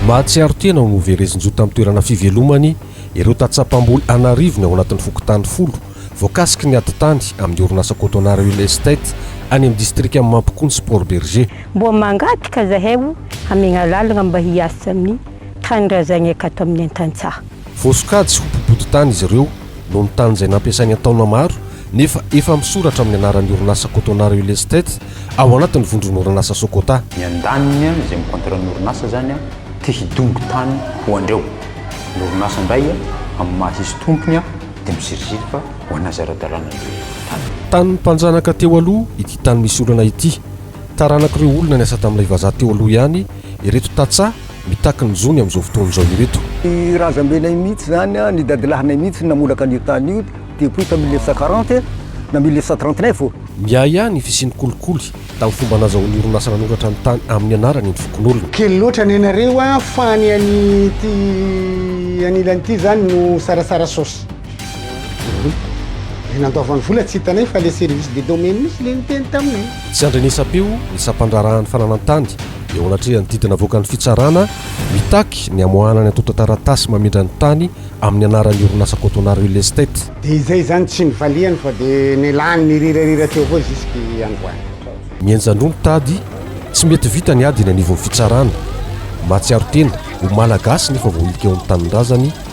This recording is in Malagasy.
Mahatsiaro tena ho noverezin-jo tamin'ny toerana fivelomany ireo tantsaha-mpamboly an'arivony ao anatin'ny fokontany folo voakasiky ny ady tany amin'ny orinasa Cotonar Real Estate any amin'ny distrikan'i Mampikony sy Port-Bergé. Mboa mangataka zahay ho hamegna lalagna mba hiasa amin'ny tanindrazagna ekato amin'ny an-tantsaha. Voasokajy ho mpibodin-tany izy ireo noho ny tany izay nampiasainy an-taona maro nefa efa misoratra amin'ny anaran'ny orinasa Cotona Real Estate ao anatin'ny vondron'orinasa Socota. Ny andaniny izay mi-contrat ny orinasa izany te hidongy tany ho andreo. Ny orinasa indray amin'ny maha izy tompony dia miziriziry fa ho anà izay ara-dalàna ny tany. Tanin'ny mpanjanaka teo aloha ity tany misy olana ity. Taranak'ireo olona niasa tamin'ilay vazaha teo aloha ihany ireto tantsaha mitaky ny zony amin'izao fotoana izao ireto. Ny razambenay mihitsy izany, ny dadilahinay mihitsy no namolaka an'io tany io depuis tamin'ny mille neuf cent quarante na mille neuf cent trente neuf ô. Miahiahy ny fisian'ny kolikoly tamin'ny fomba nazahoan'ny orinasa nanoratra ny tany amin'ny anarany ny fokonolona. Kely loatra ny anareo a, fa ny an'ity anilany ity izany no sarasara saosy. Le nandaovany vola tsy hitanay fa le service de domaine mihitsy le niteny taminay. Tsy andrenesam-peo ny sampandraharahan'ny fananantany eo anatrehan'ny didy navoakan'ny fitsarana mitaky ny hamoahana ny antontan-taratasy mamindra ny tany amin'ny anaran'ny orinasa Cotonard Real Estate. Dia izay izany tsy nivalihany fa dia nialany nirirarira teo avao jusque androany. Mihenjan-droa ny tady, tsy mety vita ny ady eny anivon'ny fitsarana. Mahatsiaro tena ho Malagasy nefa voahilika eo amin'ny tanindrazany